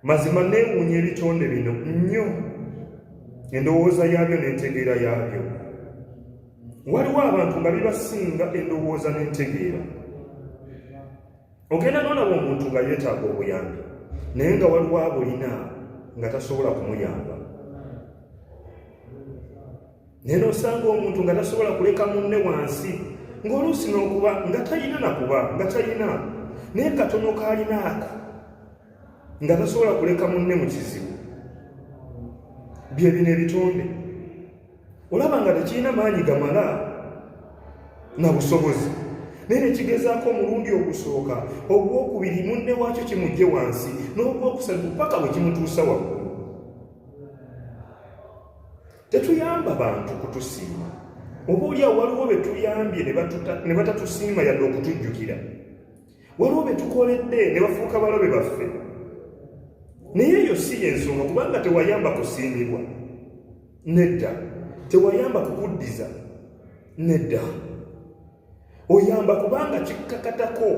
mazima neewuunya ebitonde bino nnyo endowooza yaabyo n'entegeera yaabyo waliwo abantu nga bibasinga endowooza n'entegeera ogenda nolaba omuntu nga yeetaaga obuyambi naye nga waliwo abulina nga tasobola kumuyamba naye n'osanga omuntu nga tasobola kuleka munne wansi ng'oluusi n'okuba nga talina nakuba nga talina naye katono kaalina ako nga tasobola kuleka munne mu kizibu bye bino ebitonde olaba nga tekirina maanyi gamala na busobozi naye nekigezaako omulundi ogusooka ogwokubiri munne waakyo kimugje wansi n'ogwokusatu paka bwe kimutuusa waggulu Tetuyamba bantu kutusiima. Oba olyawo waliwo be tuyambye ne batatusiima yadde okutujjukira. Waliwo be tukoledde ne bafuuka balabe baffe. Naye eyo si y'ensonga kubanga tewayamba kusiimibwa. Nedda. Tewayamba kukuddiza. Nedda. oyamba kubanga kikkakatako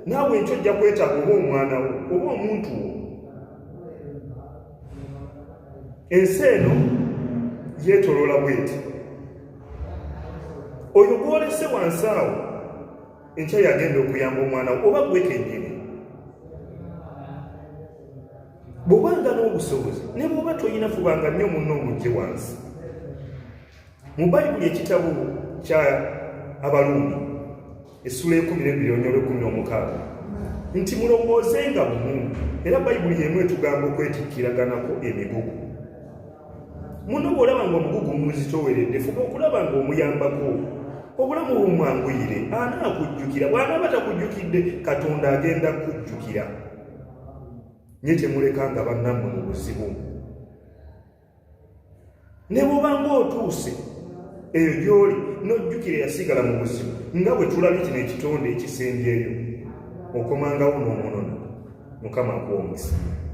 naawe enkyo ojja kwetaaga oba omwana wo oba omuntu wo ensi eno yeetoloola bweti oyo gwolese wansi awo enkya yagenda okuyamba omwana wo oba gwekenyini bwobanga n'obusobozi ne bwoba tolina fubanga nnyo munno omugye wansi mu bayibuli ekitabo kya abalundi essula ekumi nebiri onyolo ekumi n'omukaaga nti mulowooze nga bumu era bayibuli yemu etugamba okwetikkiraganako emigugu muno bw'olaba nga omugugu muzitoweredde fuba okulaba nga omuyambako obulamu bumwanguyire anaakujjukira bw'anaaba takujjukidde katonda agenda kukujjukira nye temulekanga bannammwe mu buzibu ne bwoba ng'otuuse eyo gy'oli n'ojjukira eyasigala mu buzibu nga bwe tulabye kino ekitonde ekisembyeyo okomangawo n'omunona mukama akuwa omukisa